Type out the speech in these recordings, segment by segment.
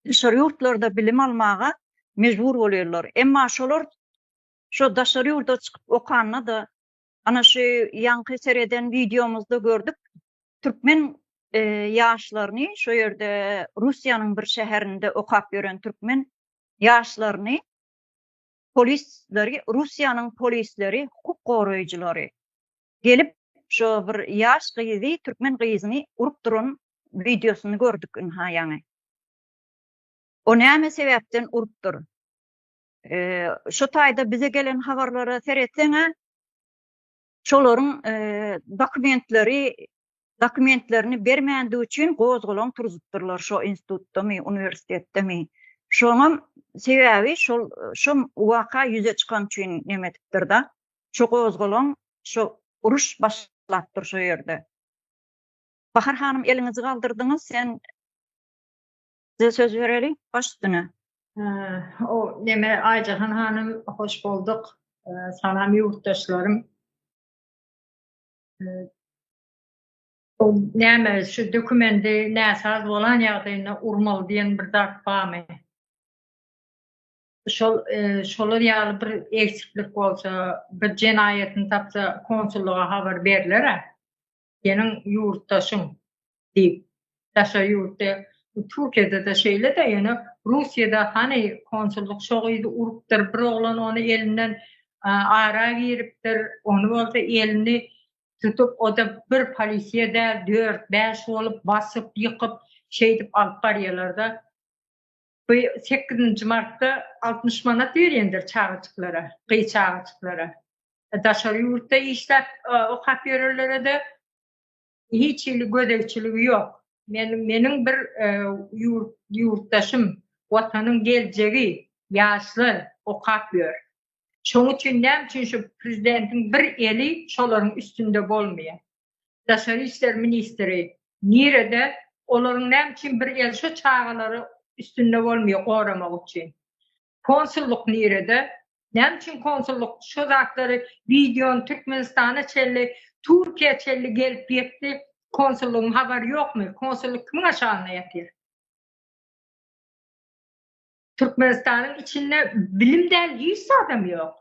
daşary ýurtlarda bilim almaga mejbur bolýarlar. Emma şolar şo daşary ýurda çykyp okanda-da, ana şu ýaňky sereden wideomyzda gördük, türkmen ýaşlaryny, şo ýerde Russiýanyň bir şäherinde okap ýören türkmen ýaşlaryny polisleri, Russiýanyň polisleri, hukuk goraýjylary gelip şo bir ýaş gyzy türkmen gyzyny urup duran wideosyny gördük ynha ýaňy. O näme sebäpden urupdyr? Şu taýda bize gelen habarlara seretseň-ä şolaryň dokumentleri dokumentlerini bermändigi üçin gozgalaň turuzypdyrlar şo institutdamy, uniwersitetdemi. Şoňam sebäbi şol şu waka ýüze çykan üçin nemetipdir-da. Şo gozgalaň şo uruş başlapdyr şo ýerde. Bahar hanym eliňizi galdyrdyňyz sen Size söz bereli baş üstüne. O neme Aýjahan hanym hoş bolduk. Salam ýurtdaşlarym. O näme şu dokumendi näsaz bolan ýagdaýynda urmaly diýen bir zat barmy? şol şolar ýaly bir eksiklik bolsa, bir jenaýatyny tapsa, konsullyga habar berler-ä. Seniň ýurtdaşyň diýip, daşary ýurtda, Türkiýede-de şeýle-de, ýöne Russiýada hany konsullyk şo gyzy urupdyr, bir oglan ony elinden ara giripdir, ony bolsa elini tutup, o-da bir polisiýa däl, dört-bäş bolup, basyp, ýykyp, şeýdip alyp barýarlar-da. Bu sekizinji martda altmyş manat berendir çagajyklara, gyz çagajyklara. Daşary ýurtda işläp okap ýörenlere-de hiç hili gözegçiligi ýok. Men meniň bir ýurtdaşym, Watanyň geljegi, ýaşlar okap ýör. Şoň üçin näme üçin şu prezidentiň bir eli şolaryň üstünde bolmaýar? Daşary işler ministri nirede olaryň näme üçin bir el şo çagalary üstünde bolmýa goramak üçin konsullyk nirede näme üçin konsullyk şo zatlary wideony türkmenistana çenli turkiýa çenli gelip ýetdi konsullygyň habary ýokmy konsullyk kimiň aşagyna ýatyr. Türkmenistanyň içinde bilim däl hiç zadam ýok.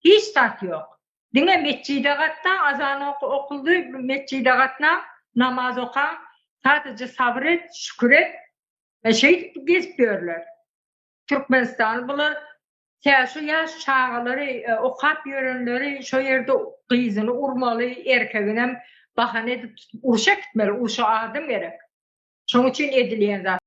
Hiç zat ýok. Diňe metjide gatna, azan oky okuldy, metjide gatna, namaz oka, sadece sabyr et, şükür et. E şeýdip gezip ýörler. Türkmenistany bular tä şu ýaş çagalary okap ýörenleri şo ýerde gyzyny urmaly, erkeginem bahana edip tutup urşa gitmeli, urşa adam gerek. Şoň üçin edilýän zat.